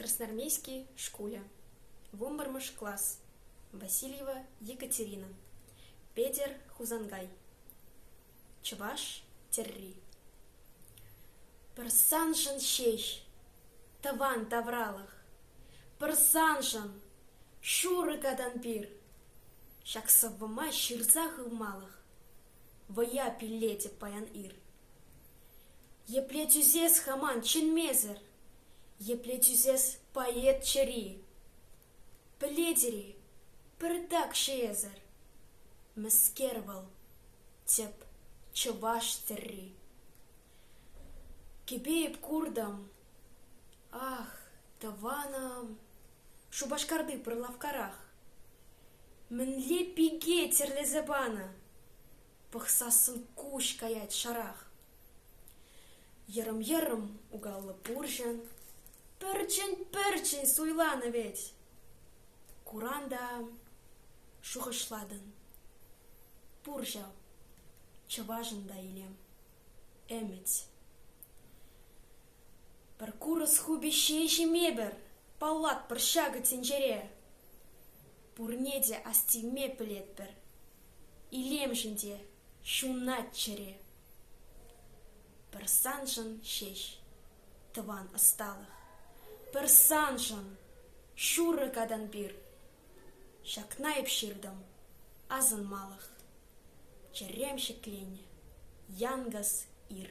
Красноармейски шкулӗ, вунпӗрмӗш класс, Васильева Екатерина, Петӗр Хусанкай, чӑваш тӗрри. Пырсаншӑн ҫеҫ тӑван тавралӑх, пырсаншӑн шурӑ катан пир, ҫак сӑввӑма ҫырса хывмалӑх. Вӑя пиллетӗп паян ир. Епле тӳсес хаман чӗнмесӗр? Епле тӳсес поэт чӗри? Пӗлетӗр-и, пӗртак-ши эсӗр? Мӗскер вӑл, тӗп чӑваш тӗрри? Кӗпе-ип куртӑм, ах, тӑванӑм, Шупашкарти пӑр лавккарах. Мӗнле пике тӗрлесе панӑ! Пӑхсассӑн куҫ каять шарах. Йӑрӑм-йӑрӑм угаллӑ пурҫӑн пӗрчӗн-пӗрчӗн суйланӑ вӗт. Куран та шухӑшлатӑн. Пур ҫав, чӑвашӑн та илем. Ӗмӗт. Пӗр курс хупӑҫҫи ҫимепӗр, паллатпӑр ҫакӑ тӗнчере. Пурне те астивме пӗлетпӗр. Илемшӗн те ҫунат чӗре. Пӗр саншӑн ҫеҫ тӑван ӑсталӑх. Пӗр саншӑн, ҫурӑ катан пир. Ҫакна эп ҫыртӑм: асӑнмалӑх, чӗрем ҫӗкленнӗ, янкӑс ир.